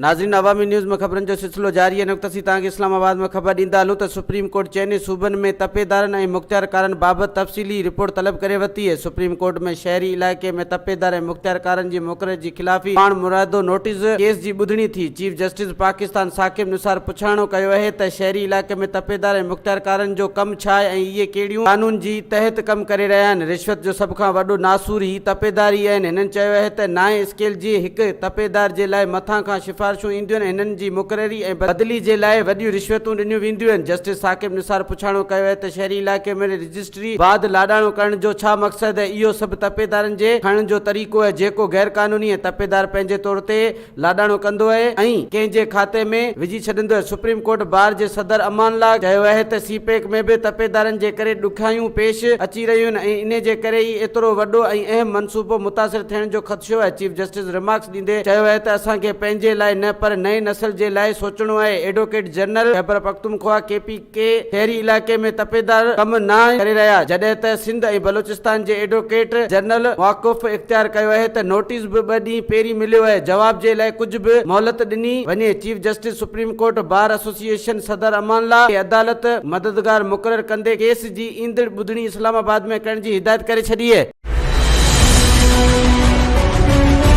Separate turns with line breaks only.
ناظرين عوامي نيوز ۾ خبرن جو سلسلو جاري هن وقت اسين توهان کي اسلام آباد مان خبر ڏيندا هلون ته سپريم ڪورٽ چئني صوبن ۾ تپيدارن ۽ مختيارڪارن بابت تفصيلي رپورٽ طلب ڪري ورتي اهي سپريم ڪورٽ ۾ شهري علائقي ۾ تپيدار ۽ مختيارڪارن جي مقرري جي خلافي پاڻ مرادو نوٽيس ڪيس جي ٻڌڻي ٿي چيف جسٽس پاڪستان ثاقب نثار پڇاڻو ڪيو اهي ته شهري علائقي ۾ تپيدار ۽ مختيارڪارن جو ڪم ڇا آهي ۽ اهي ڪهڙيون قانون جي تحت ڪم ڪري رهيا آهن. رشوت جو سڀ کان وڏو ناسور هي تپيدار ئي آهن. هنن چيو اهي ته نائين اسڪيل جي هڪ تپيدار جي لاء مٿان کان شفارشون اينديون ۽ هنن جي مقرري ۽ بدلي جي لاء وڏيون رشوتون ڏنيون وينديون آهن. جسٽس ثاقب نثار پڇاڻو ڪيو اهي ته شهري علائقي ۾ رجسٽري بعد لاڏاڻو ڪرڻ جو ڇا مقصد اهي اهو سڀ تپيدارن جي کڻڻ جو طريقو اهي جيڪو غيرقانوني ۽ تپيدار پنهنجي طور تي لاڏاڻو ڪندو اهي ۽ ڪنهن جي کاتي ۾ وجهي ڇڏيندو اهي سپريم ڪورٽ بار جي صدر امان الله چيو اهي ته سي پيڪ ۾ به تپيدارن جي ڪري ڏکيائيون پيش اچي رهيون آهن ۽ انهي جي ڪري ئي ايترو وڏو ۽ اهم منصوبو متاثر ٿيڻ جو خدشو آهي چيف جسٽس رمارڪس ڏيندي چيو اهي ته اسان کي پنهنجي لاء نه پر نئين نسل جي لاء سوچڻو آهي advocate general Khyber Pakhtunkhwa K P ڪي شهري علائقي ۾ تپيدار ڪم نه آهن ڪري رهيا جڏهن ته سنڌ ۽ بلوچستان جي ايڊووڪيٽ جنرل موقف اختيار ڪيو اهي ته نوٽيس به ٻه ڏينهن پهرين مليو اهي جواب جي لاء ڪجهه به مهلت ڏني وڃي chief justice supreme court bar association صدر امان الله کي عدالت مددگار مقرر ڪندي ڪيس جي ايندڙ ٻڌڻي اسلام آباد ۾ ڪرڻ جي هدايت ڪري ڇڏي اهي.